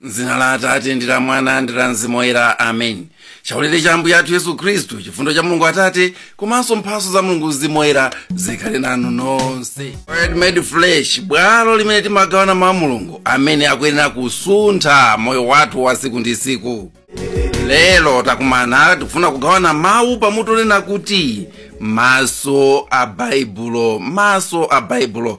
mzina la atate ndi la mwana ndi la mzimu woyera amen chaulere cha ambuye athu yesu khristu chifundo cha mulungu atate komanso mphaso za mulungu mzimu woyera zikhale nanu nonse Word made flesh bwalo limene timagawana mawu a mulungu amene akuyenera kusuntha moyo wathu wa siku ndi siku lero takumana tikufuna kugawana mawu pamutu onena kuti maso a baibulo maso a baibulo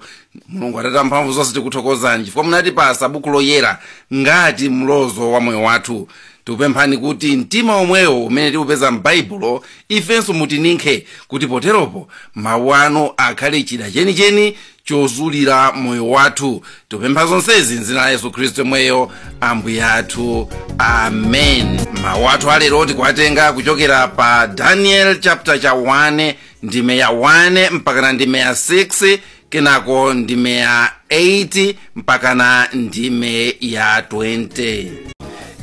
mulungu atate a mphamvu zonse tikuthokozani chifukwa munatipasa buku loyera ngati mlozo wa moyo wathu tikupemphani kuti mtima omwewo umene tikupeza m'baibulo ifenso mutininkhe kuti poteropo mawu anu akhale chida chenicheni chozulira moyo wathu tikupempha zonsezi mdzina la yesu khristu yemweyo ambuye athu amen mawu athu alero tikuwatenga kuchokera pa daniel chapter cha 1 ndime ya 1 mpakana ndime ya 6 kenako ndime ya 8 mpakana ndime ya 20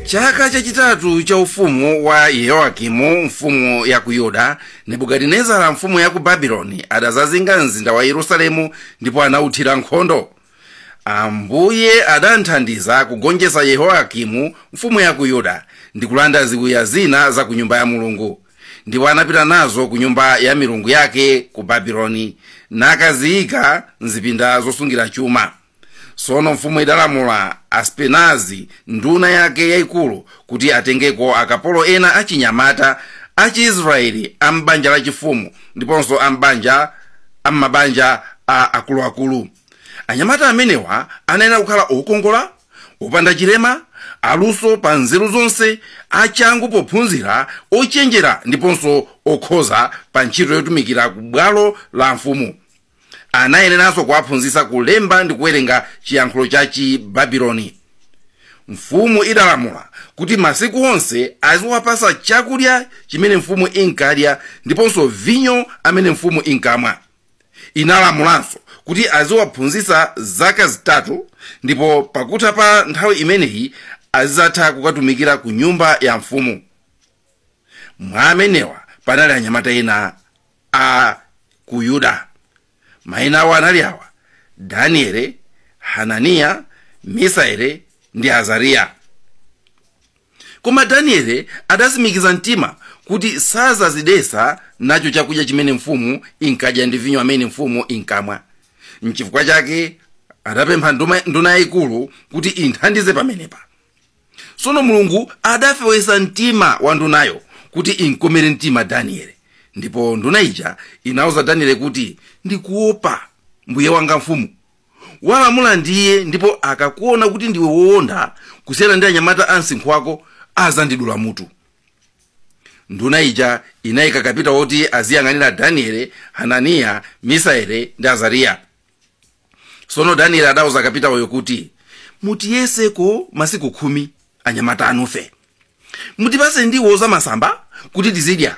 chaka chachitatu cha ufumu wa yehoyakimu mfumu ya ku yuda nebukadinezara mfumu ya ku babiloni adazazinga mzinda wa yerusalemu ndipo anauthira nkhondo ambuye adamthandiza kugonjetsa yehoyakimu mfumu ya ku yuda ndi kulanda ziwiya zina za ku nyumba ya mulungu ndipo anapita nazo ku nyumba ya milungu yake ku babiloni nakaziyika mzipinda zosungira chuma tsono mfumu idalamula aspenazi nduna yake yayikulu kuti atengeko akapolo ena achinyamata achiisraeli a m'banja lachifumu ndiponso a m'mabanja a akuluakulu anyamata amenewa anayenera kukhala okongola opanda chilema aluso pa nzeru zonse achangu pophunzira ochenjera ndiponso okhoza pa ntchito yotumikira ku bwalo la mfumu anayeneranso kuwaphunzitsa kulemba ndi kuwerenga chiyankhulo cha chibabiloni mfumu idalamula kuti masiku onse aziwapasa chakudya chimene mfumu inkadya ndiponso vinyo amene mfumu inkamwa inalamulanso kuti aziwaphunzitsa zaka zitatu ndipo pakutha pa nthawi imeneyi azidzatha kukatumikira ku nyumba ya mfumu mwa amenewa panali anyamata ena a ku yuda maina awo anali awa daniele hananiya misaele ndi azariya koma daniele adasimikiza mtima kuti sazazidesa nacho chakudya chimene mfumu inkadya ndi vinyo amene mfumu inkamwa nchifukwa chake adapempha nduna yayikulu kuti imthandize pamenepa tsono mulungu adafewetsa mtima wa ndunayo kuti inkomere mtima danieli ndipo nduna ija inauza danieli kuti ndikuopa mbuye wanga mfumu walamula ndiye ndipo akakuona kuti ndiwe woonda kusiyana ndi anyamata a msinkhu wako azandidula mutu nduna ija inayika kapita woti aziyang'anira danieli hananiya misaele ndi azariya sono danieli adauza kapitawoyo kuti mutiyeseko masiku khumi anyamata anufe mutipase ndiwo za masamba kuti tizidya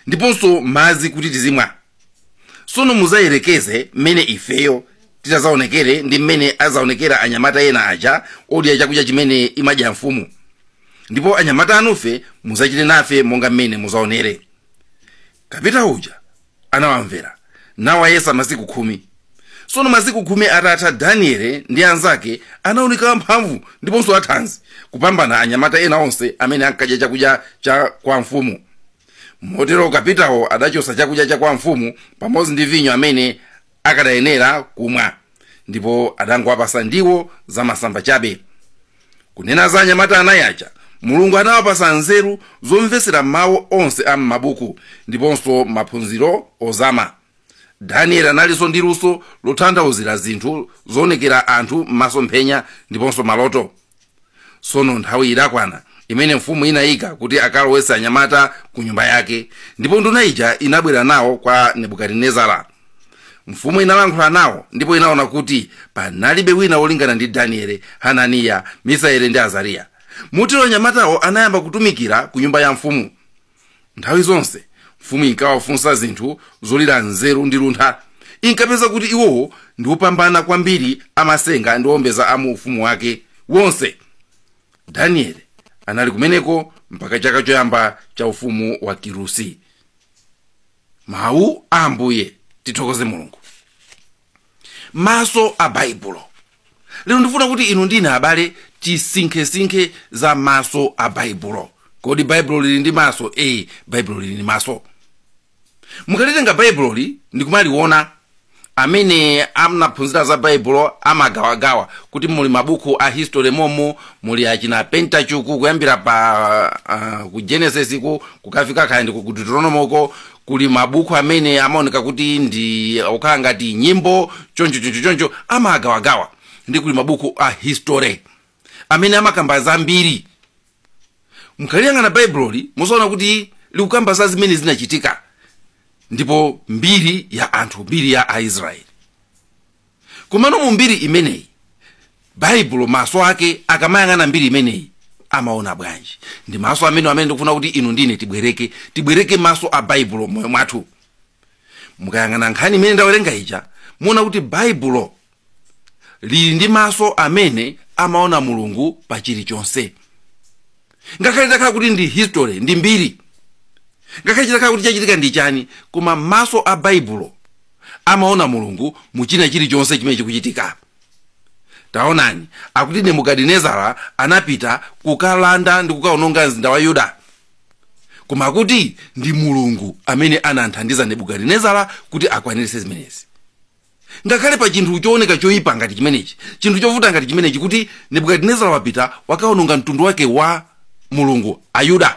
ndiponso madzi kuti tizimwa sono muzayerekeze mmene ifeyo titazaonekere ndi mmene azaonekera anyamata ena aja odya chakudya chimene imadya mfumu ndipo anyamata anufe muzachite nafe monga mmene muzaonere kapitawo uja anawamvera nawayesa masiku khumi tsono masiku khumi atatha daniele ndi anzake anaoneka amphamvu ndiponso athanzi kupambana anyamata ena onse amene ankadya chakudya cha kwa mfumu motero kapitawo adachotsa chakudya cha kwa mfumu pamodzi ndi vinyo amene akadayenera kumwa ndipo adangowapasa ndiwo zamasamba chabe kunena za anyamata anayi aja mulungu anawapasa nzeru zomvetsera mawu onse a m'mabuku ndiponso maphunziro ozama danieli analinso ndi luso lotanthauzira zinthu zoonekera anthu m'masomphenya ndiponso maloto tsono nthawi idakwana imene mfumu inayika kuti akalowetse anyamata ku nyumba yake ndipo nduna ija inabwera nawo kwa nebukadinezara mfumu inalankhula nawo ndipo inaona kuti panalibe wina wolingana ndi danieli hananiya misaeli ndi azariya motero anyamatawo anayamba kutumikira ku nyumba ya mfumu nthawi zonse mfumu inkawafunsa zinthu zolira nzeru ndi luntha inkapeza kuti iwowo ndi opambana kwambiri amasenga ndi owombeza a mu ufumu wake wonse danieli anali kumeneko mpaka chaka choyamba cha ufumu wa kirusi mawu a ambuye tithokoze mulungu maso a baibulo lero ndifuna kuti inu ndine abale tisinkhesinkhe za maso a baibulo kodi baibulo lili ndi maso ee baibulo lili ndi maso mukalitenga baibuloli ndikumaliona amene anaphunzira za baibulo amagawagawa kuti muli mabuku a history momu muli achina pentateuch kuyambira pa uh, ku genesisiku kukafika kaya ndiko ku deuteronomoko kuli mabuku amene amaoneka kuti ndi okhala ngati nyimbo choncho choncho choncho amagawagawa ndi kuli mabuku a history amene amakamba za mbiri mukaliyang'ana baibuloli muzaona kuti likukamba za zimene zinachitika ndipo mbiri ya anthu mbiri ya aisraeli komano mu mbiri imeneyi baibulo maso ake akamayang'ana mbiri imeneyi amaona bwanji ndi maso amene amene ndikufuna kuti inu ndine tibwereke tibwereke maso a baibulo moyo mwathu mukayang'ana nkhani imene ndawerenga ija muona kuti baibulo lili ndi maso amene amaona mulungu pa chilichonse ngakhale zitakhala kuti ndi history ndi mbiri ngakhale chitakhala kuti chachitika ndi chani koma maso a baibulo amaona mulungu mu china chilichonse chimene chikuchitika taonani akuti nebukadinezara anapita kukalanda ndi kukaononga mzinda wa yuda koma akuti ndi mulungu amene anathandiza nebukadinezara kuti akwaniritse zimenezi ngakhale pa chinthu chooneka choyipa ngati chimenechi chinthu chovuta ngati chimenechi kuti nebukadinezara wapita wakaononga mtundu wake wa mulungu ayuda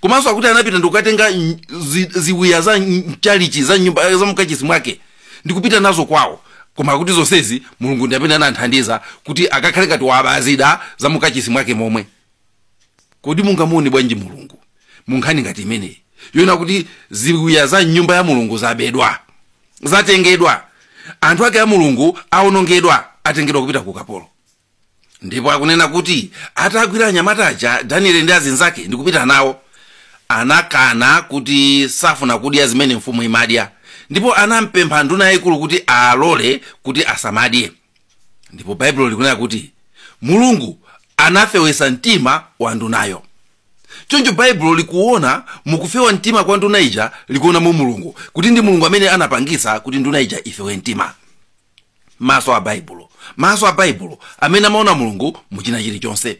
komanso akuti anapita ndikukatenga ny- zi- ziwiya za mchalichi za nyumba za mkachisi mwake ndikupita nazo kwawo koma akuti zonsezi mulungu ndi amene anamthandiza kuti akakhale ngati waba zida za mkachisi mwake momwe kodi mungamuone bwanji mulungu mu nkhani ngati imeneyi yonena kuti ziwiya za mnyumba ya mulungu zabedwa zatengedwa anthu ake a mulungu awonongedwa atengedwa kupita ku ukapolo ndipo akunena kuti atagwira anyamata aja danieli ndi azinzake ndi kupita nawo anakana kuti safuna kudya zimene mfumu imadya ndipo anampempha nduna yayikulu kuti alole kuti asamadye ndipo baibulo likunena kuti mulungu anafewetsa mtima wa ndunayo choncho baibulo likuona mukufewa mtima kwa nduna ija likuona mu mulungu kuti ndi mulungu amene anapangitsa kuti nduna ija ifewe mtima maso a baibulo maso a baibulo amene amaona mulungu mu china chilichonse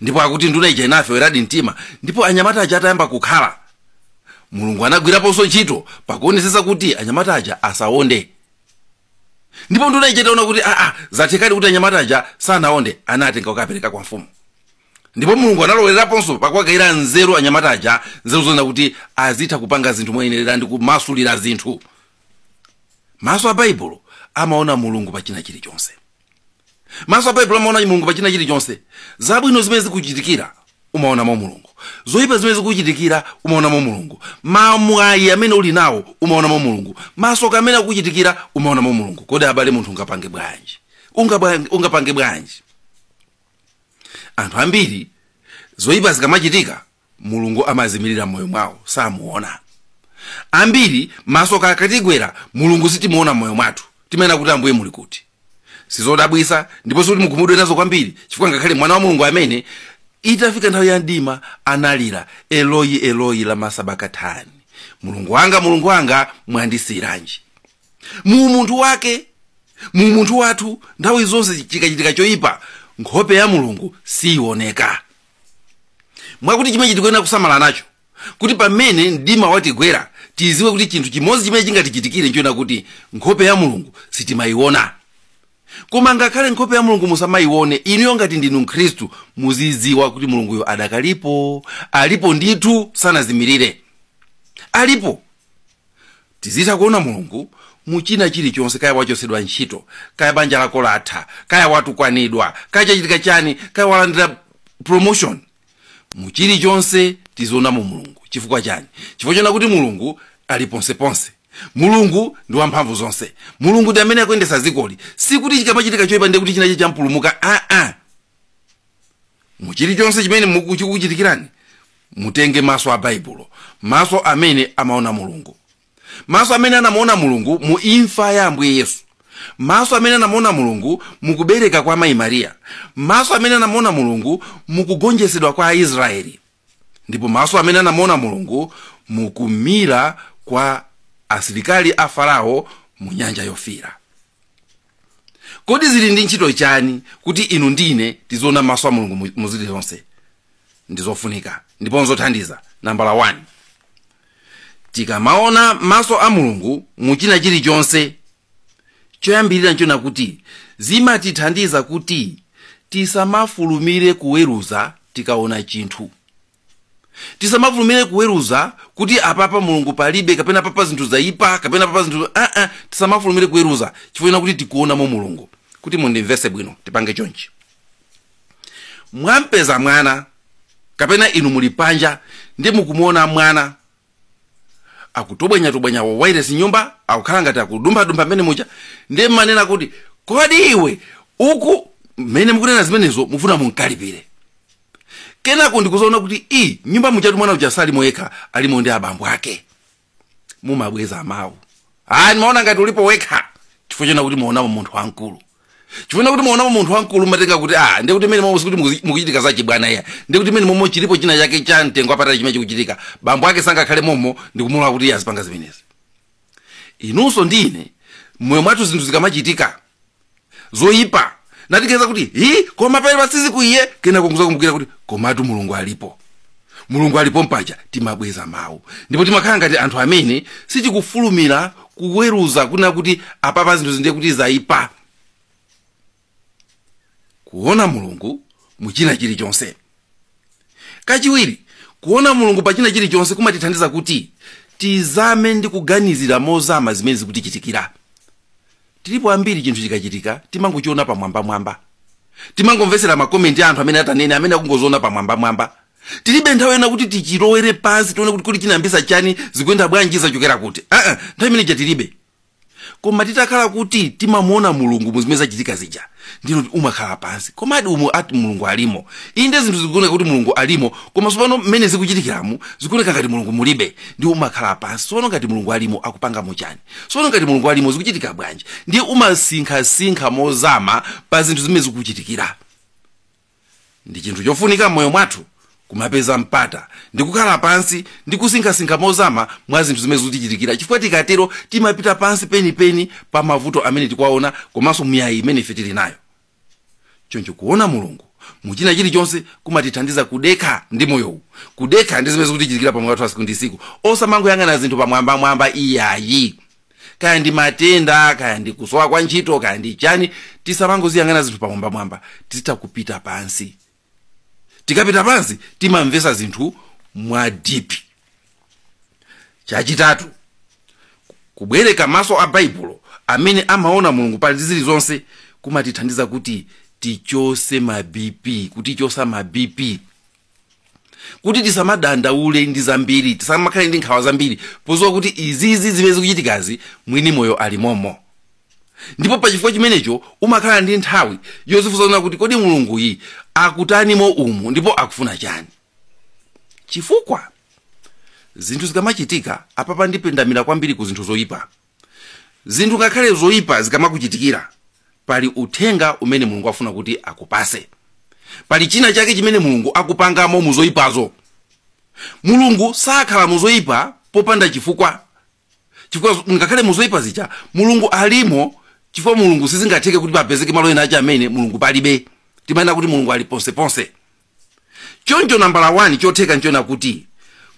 ndipo akuti nduna ija inafeweradi mtima ndipo anyamata aja atayamba kukhala mulungu anagwiraponso ntchito pakuonetsetsa kuti anyamata aja asawonde ndipo nduna ija itaona kuti aa zathekadi kuti anyamata aja sanaonde anatenga kukapereka kwa mfumu ndipo mulungu analoweraponso pakuwagayira nzeru anyamata aja nzeru zonena kuti azitha kupanga zinthu moyenerera ndi kumasulira zinthu maso a baibulo amaona mulungu pa china chilichonse maso a baibulo amaona mulungu pa china chilichonse zabwino zimene zikuchitikira umaonamo mulungu zoyipa zimene zikuchitikira umaonamo mulungu mamwayi amene uli nawo umaonamo mulungu masoka amene akuchitikira umaonamo mulungu kodi abale munthu ungapange bwanji Ungabwa- ungapange bwanji anthu ambiri zoyipa zikamachitika mulungu amazimirira mmoyo mwawo samuona ambiri masoka akatigwera mulungu sitimuona mmoyo mwathu timanena kuti ambuye muli kuti sizodabwisa ndiponso sikuti mukhumudwe nazo kwambiri chifukwa ngakhale mwana wa mulungu amene itafika nthawi ya mdima analira eloyi eloyi lama sabakatani mulungu wanga mulungu wanga mwandisiyiranji mu umunthu wake mu umunthu wathu nthawi zonse chikachitika choyipa nkhope ya mulungu siyiwoneka mwakuti chimenechi tikuyenera kusamala nacho kuti pamene mdima watigwera tiziwe kuti chinthu chimodzi chimene chingatichitikire nchoona kuti nkhope ya mulungu sitimayiona koma ngakhale nkhope ya mulungu musamayione inuyo ngati ndinu mkhristu muzidziwa kuti mulunguyo adakalipo alipo ndithu sanazimirire alipo tizitha kuona mulungu mu china chilichonse kaya wachotsedwa ntchito kaya banja lako latha kaya watukwanidwa kaya chachitika chani kaya walandira promotion mu chilichonse tizionamo mulungu chifukwa chani chifukwa choona kuti mulungu ali ponseponse mulungu ndi wamphamvu zonse mulungu ndi amene akuyendesa dzikoli sikuti chikamachitika choyipa ndiye kuti chinachake champulumuka aa mu chilichonse chimene muku- chikukuchitikirani mutenge maso a baibulo maso amene amaona mulungu maso amene anamuona mulungu mu imfa ya ambuye yesu maso amene anamuona mulungu mukubereka kwa mayi mariya maso amene anamuona mulungu mukugonjetsedwa kwa aisraeli ndipo maso amene anamuona mulungu mukumira kwa asilikali a farao mu nyanja yofira kodi zili ndi ntchito chani kuti inu ndine tiziona maso a mulungu mu- mu zilizonse ndi zofunika ndipo nzothandiza nambala 1 tikamaona maso a mulungu mu china chilichonse choyambirira nchona kuti zimatithandiza kuti tisamafulumire kuweruza tikaona chinthu tisamafulumire kuweruza kuti apapa mulungu palibe kapena papa zinthu zayipa kapena papa zinthu aa tisamafulumire kuweruza chifukwa choona kuti tikuonamo mulungu kuti mundimvese bwino tipange chonchi mwampeza mwana kapena inu muli panja ndi mukumuona mwana akutobwenyatobwenya wawairesi mnyumba akukhala ngati akudumphadumpha mmene muja ndiye mmanena kuti kodi iwe uku mmene mukunena zimenezo mufuna munkalipire kenako ndikuzaona kuti ii mnyumba mujatu mwana uja salimo yekha alimo ndi abambo ake mumabweza mawu ayi ndimaona ngati ulipo wekha chifukwa choona kuti mwaonamo munthu wamkulu chifukwa choona kuti mwaonamo munthu wamkulu mumatenga kuti ah ndiye kuti mmenemo sikuti mukuzi- mukuchitika za chibwana iyayi ndiye kuti mmenemo chilipo china chake cha mtengo apatali chimene chikuchitika bambo ake sangakhale momo ndikumulola kuti iye azipanga zimenezi inunso ndi ine mmoyo mwathu zinthu zikamachitika zoyipa tinatikeza kuti hi koma pali patsidziku iye kenaka kuzakumbukira kuti komatu mulungu alipo mulungu alipo mpaja timabweza mawu ndipo timakhala ngati anthu amene sitikufulumira kuweruza kunena kuti apapa zinthu ndiye kuti zayipa kuona mulungu mu china chilichonse kachiwiri kuona mulungu pa china chilichonse kumatithandiza kuti tizame ndi kuganizira mozama zimene zikutichitikira tilipo ambiri chinthu chikachitika timangochiona pamwambamwamba timangomvetsera makomenti a anthu amene atanene amene akungoziona pamwambamwamba tilibe nthawi yonena kuti tichilowere pansi tione kuti kodi chinayambisa chani zikuyenda bwanji zachokera kuti aa nthawi imene ija tilibe koma titakhala kuti timamuona mulungu muzimene zachitika zija ndiye kuti umakhala pansi komadi umu ati mulungu alimo inde zinthu zikuoneka kuti mulungu alimo koma sopano mmene zikuchitikiramu zikuoneka ngati mulungu mulibe ndiye umakhala pansi sopano ngati mulungu alimo akupangamo chani sono ngati mulungu alimo zikuchitika bwanji ndiye umasinkhasinkha mozama pa zinthu zimene zikukuchitikira ndi chinthu chofunika m'moyo mwathu kumapeza mpata ndi kukhala pansi ndi kusinkhasinkha mozama mwa zinthu zimene zikutichitikira chifukwa tikatero timapita pansi penipeni pa mavuto amene tikuwaona komanso miyayi imene ife tili nayo choncho kuona mulungu mu china chilichonse kumatithandiza kudekha ndi moyowu kudekha ndi zimene zikutichitikira pa moyo wathu wa siku ndi siku osamangoyang'ana zinthu pamwambamwamba iyayi kaya ndi matenda kaya ndi kusowa kwa ntchito kaya ndi chani tisamangoziyang'ana zinthu pamwambamwamba tizitha kupita pansi tikapita pansi timamvesa zinthu mwa dipi chachitatu kubwereka maso a baibulo amene amaona mulungu pa zilizonse kumatithandiza kuti tichose ma bp kutichosa ma bp kuti tisamadandaule ndi zambiri tisamakhale ndi nkhawa zambiri podziwa kuti izizi zimene zikuchitikazi mwini moyo alimomo ndipo pa chifukwa chimenecho umakhala ndi nthawi yozifunsa zonena kuti kodi mulunguyu akutanimo umu ndipo akufuna chani chifukwa zinthu zikamachitika apapa ndipendamira kwambiri ku zinthu zoyipa zinthu ngakhale zoyipa zikamakuchitikira pali uthenga umene mulungu afuna kuti akupase pali china chake chimene mulungu akupangamo muzoyipazo mulungu sakhala muzoyipa popanda chifukwa chifukwa ngakhale muzoyipa zija mulungu alimo chifukwa mulungu sizingatheke kuti papezeke malo ena ache amene mulungu palibe timanena kuti mulungu ali ponseponse choncho nambala 1 chotheka nchonena kuti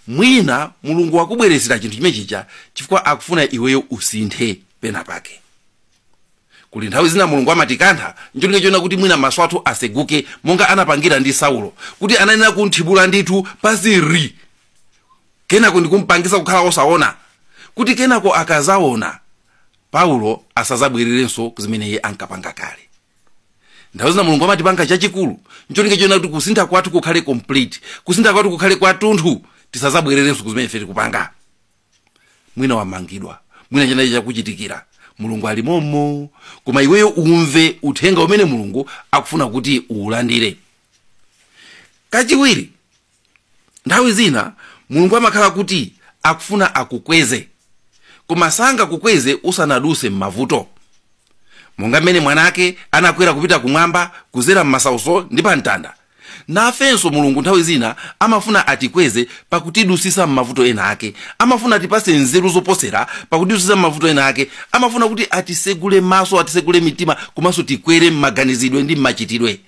mwina mulungu wakubweretsera chinthu chimene chija chifukwa akufuna iweyo usinthe pena pake kuli nthawi zina mulungu amatikantha ncholinga chonena kuti mwina maso athu aseguke monga anapangira ndi saulo kuti anayenera kumthibula ndithu paziri kenako ndikumpangisa kukhala osaona kuti kenako akazaona paulo asazabwererenso kuzimene iye ankapanga kale nthawi zina mulungu amatipanga chachikulu ncholinga chonena kuti kusintha kwathu kukhale complete kusintha kwathu kukhale kwatunthu tisazabwererenso kuzimene ife tikupanga mwina wamangidwa mwina chinachi chakuchitikira mulungu ali momo koma iweyo umve uthenga umene mulungu akufuna kuti uulandire kachiwiri nthawi zina mulungu amakhala kuti akufuna akukweze koma sangakukweze usanaduse m'mavuto monga mmene mwana ake anakwera kupita kumwamba kuzera m'masauso ndi pa mtanda nafenso mulungu nthawi zina amafuna atikweze pakutidusisa m'mavuto ena ake amafuna atipase nzeru zoposera pakutidusisa m'mavuto ena ake amafuna kuti atisegule maso atisegule mitima komanso tikwere m'maganizidwe ndi m'machitidwe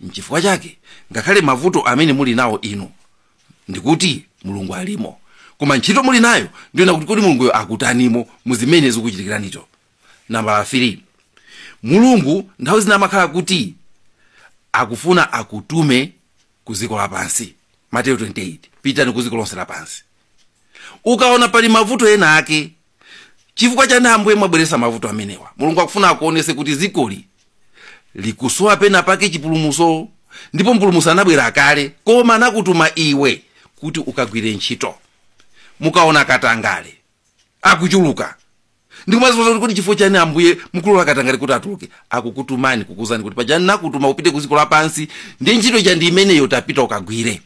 nchifukwa chake ngakhale mavuto amene muli nawo inu ndikuti mulungu alimo koma ntchito muli nayo ndi yonena kuti kodi mulunguyo akutanimo mu zimene zikukuchitikiranizo nambala 3 mulungu nthawi zina amakhala kuti akufuna akutume ku dziko lapansi mateyu 28 pitani ku dziko lonse lapansi ukaona pali mavuto ena ake chifukwa chani ambuye mwabweretsa mavuto amenewa mulungu akufuna akuonese kuti zikoli likusowa pena pake chipulumuso ndipo mpulumusi anabwera kale koma anakutuma iwe kuti ukagwire ntchito mukaona katangale akuchuluka ndikumazifunsa kuti kodi chifukwa chani ambuye mukulola katangale kuti achuluke akukutumani kukuuzani kuti paja ndinakutuma upite ku dziko lapansi ndi ntchito yake ndi imeneyo tapita ukagwire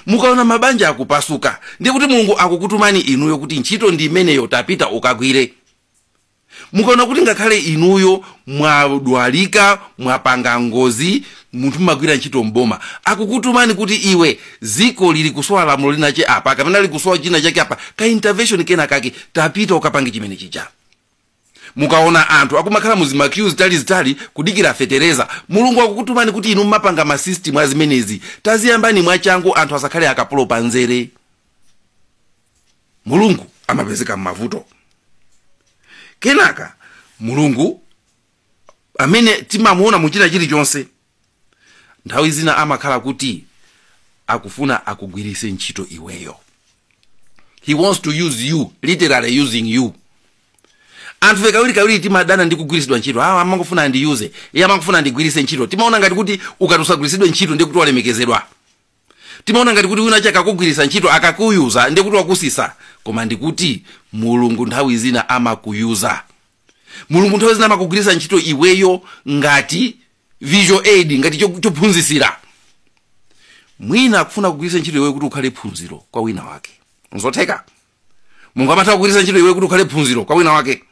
mukaona mabanja akupasuka ndiye kuti mulungu akukutumani inuyo kuti ntchito ndi imeneyo tapita ukagwire mukaona kuti ngakhale inuyo mwadwalika mwapanga ngozi munthu mumagwira ntchito mboma akukutumani kuti iwe ziko lili kusowa lamulo linache apa kapena lili kusowa china chake apa ka intervention kena kake tapita ukapange chimene chija mukaona anthu akumakhala mu zimakiyu zitalizitali kudikira fetereza mulungu akukutumani kuti inu mmapanga masisitimu a zimenezi taziyambani mwachangu anthu asakhale akapolo pa nzere mulungu amapezeka m'mavuto kenaka mulungu amene timamuona mu china chilichonse nthawi zina amakhala kuti akufuna akugwiritse ntchito iweyo he wants to use you literally using you anthufe kawirikawiri timadana ndi kugwiritsidwa ntchito aa amangofuna andiyuze iye amangofuna andigwiritse ntchito timaona ngati kuti ukati usagwiritsidwe ntchito ndiye kuti walemekezedwa timaona ngati kuti wina wake akakugwiritsa ntchito akakuyuza ndiye kuti wakutsitsa koma ndikuti mulungu nthawi zina amakuyuza mulungu nthawi zina amakugwiritsa ntchito iweyo ngati visual aid ngati cho- chophunzitsira mwina akufuna kugwiritsa ntchito iweyo kuti ukhale phunziro kwa wina wake nzotheka mulungu amatha kugwiritsa ntchito iweyo kuti ukhale phunziro kwa wina wake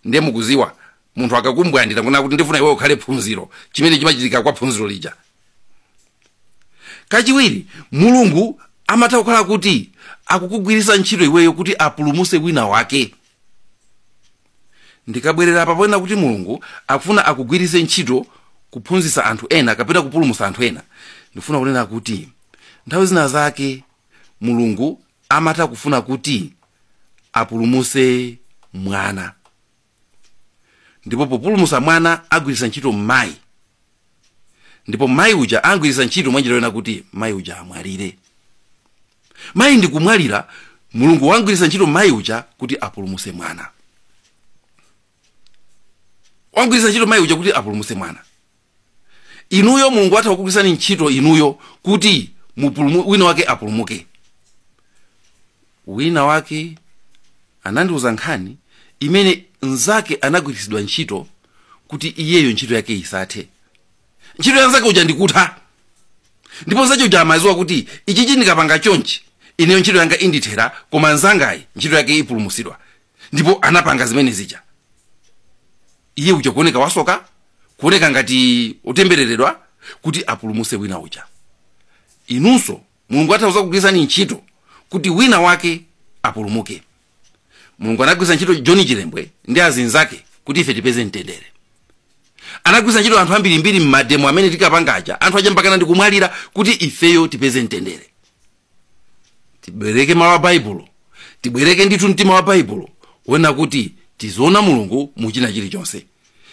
ndiye mukudziwa munthu akakumbwandira kunena kuti ndifuna iweyo ukhale phunziro chimene chimachitika kwa phunziro lija kachiwiri mulungu amatha kukhala kuti akukugwiritsa ntchito iweyo kuti apulumutse wina wake ndikabwerera apa ponena kuti mulungu akufuna akugwiritse ntchito kuphunzitsa anthu ena kapena kupulumutsa anthu ena ndifuna kunena kuti nthawi zina zake mulungu amatha kufuna kuti apulumutse mwana ndipo populumutsa mwana agwiritsa ntchito mayi ndipo mayi uja amugwiritsa ntchito mwanjira yonena kuti mayi uja amwalire mayi ndi kumwalira mulungu wamugwiritsa ntchito mayi uja kuti apulumutse mwana wamugwiritsa ntchito mayi uja kuti apulumutse mwana inuyo mulungu atha kukugwiritsani ntchito inuyo kuti mupulumu, wina wake apulumuke wina wake anandiuza nkhani imene mnzake anagwiritsidwa ntchito kuti iyeyo ntchito yake isathe ntchito ya mnzake uja ndikutha ndipo mnzake uja amadziwa kuti ichichi ndikapanga chonchi ineyo ntchito yanga indithera koma mnzangayi ntchito yake ipulumutsidwa ndipo anapanga zimene zija iye uja kuoneka wasoka kuoneka ngati otembereredwa kuti apulumutse wina uja inunso mulungu atha kudzakugwiritsani ntchito kuti wina wake apulumuke mulungu anagwiritsa ntchito john chilembwe ndi anzinzake kuti ife tipeze mtendere anagwiritsa ntchito anthu ambirimbiri mmademo amene tinkapanga aja anthu aja mpakana ndikumwalira kuti ifeyo tipeze mtendere tibwereke mawu a baibulo tibwereke ndithu mtima wa baibulo wonena kuti tiziona mulungu mu china chilichonse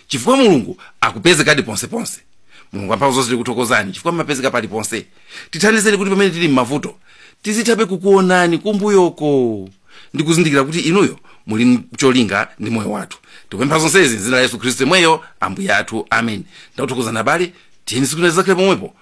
chifukwa mulungu akupezekadi ponseponse mulungu amphamvu zonse tikuthokozani chifukwa mumapezeka paliponse tithandizeni kuti pamene tili m'mavuto tizithabe kukuonani kumbuyoko ndi kuzindikira kuti inuyo muli ndi cholinga ndi moyo wathu tikupempha zonsezi m'dzina la yesu khristu yemweyo ambuye athu amen ndakuthokozani abale tiyeni tsiku lina tidzakhale pomwepo